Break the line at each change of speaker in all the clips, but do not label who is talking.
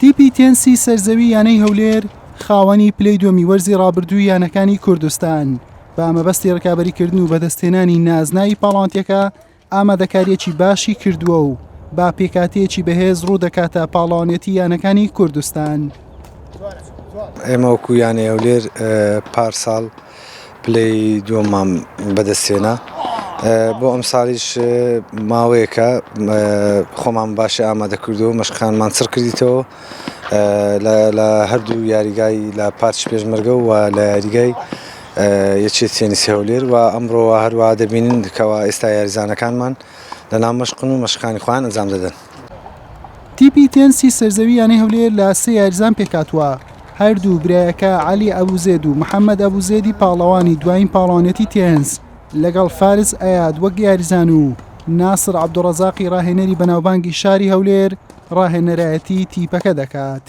تیپی تێنسی سەرزەوی یانەی هەولێر خاوەنی پلەی دووەمی وەرزی ڕابردووی یانەکانی کوردستان بە مەبەستی ڕکابەریکردن و بەدەستهێنانی نازناوی پاڵاوانتیەکە ئامادەکاریەکی باشی کردووە و با پێکاتەیەکی بەهێز ڕوو دەکاتە پاڵاوانێتی یانەکانی کوردستان.
ئێمە وەکو یانەی هەولێر پارساڵ پلەی دووەممان بەدەستهێنا بۆ ئەمساڵیش ماوەیەکە خۆمان باشی ئامادەکردەوە مەشقانمان چڕ کردیتەوە لە هەردوو یاریگای لە پارچ پێشمەرگە و لە یاریگای یەکێ تێنیسی هەولێر و ئەمڕۆوە هەروە دەبینین کەەوە ئێستا یاریزانەکانمان لە نامەشقن و مەشقانی خوان ئەنجام دەدەن. تیپی
تێنسی سەرزەوی یانەی هەولێر لە سێ یاریزان پێکاتوە هەردوو برایەکە علی ئەبوزێد و محەممەد ئەبوزێدی پاڵەوانی دوایین پاڵەوانەتی تێنس لەگەڵ فارس ئەیاد وەک یاریزان و ناسر عبدڕزاقی ڕاهێنەری بەناوبانگی شاری هەولێر ڕاهێنەرایەتی تیپەکە دەکات.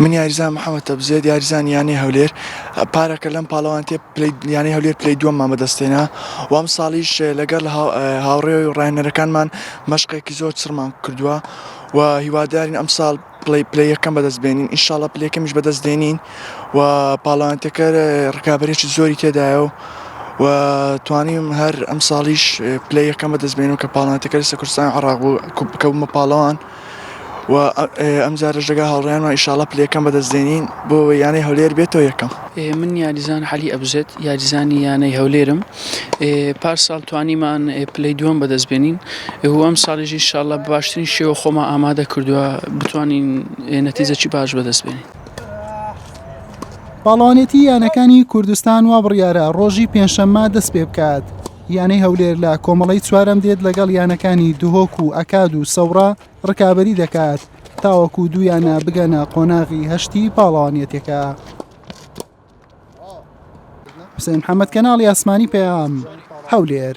من یاریزان محەممەد تەبزێت یاریزان یانەی هەولێر پارەکە لەم پاڵەوانتێ یانەی هەولێر پلی دووەممان بەدەستێنا وام ساڵیش لەگەڵ هاوڕێ و ڕاهێنەرەکانمان مەشقێکی زۆر چڕمان کردووە و هیوادارین ئەم ساڵ پلی پلیەکەم بەدەست بێنین ئینشاڵە پلەکەمیش بەدەست دێنین و پاڵەوانتەکە ڕکابەرێکی زۆری تێدایە و و توانیم هەر ئەم ساڵیش پلی یەکەم بەدەست بێنم کە پاڵاتەکە لە سەکوستان عراق بوو بکەومە پاڵەوان. و ئەمجارەش دەگا هاوڕێیانەوە ئیشاڵە پلەکەم بەدەستێنین بۆ یانەی هەولێر بێتەوە یەکەم من یاریزان
حەلی ئەبزێت یاریزانی یانەی هەولێرم پار ساڵ توانیمان پلەی دووەم بەدەستبێنین ئەم ساڵیژی شاڵە باشترین شێوە خۆمە ئامادە کردووە بتوانین نەتیزەکی باش بەدەستبێنین.
پاڵەوانێتی یانەکانی کوردستان وا بڕیارە ڕۆژی پێنجشەممە دەست پێ بکات. یانەی هەولێر لە کۆمەڵەی چوارەم دێت لەگەڵ یانەکانی دهۆک و ئەکاد و سەوڕا ڕکابەری دەکات تاوەکو دوو یانە بگەنە قۆناغی هەشتی پاڵەوانیەتەکە حسێن حەمەد کەناڵی ئاسمانی پەیام هەولێر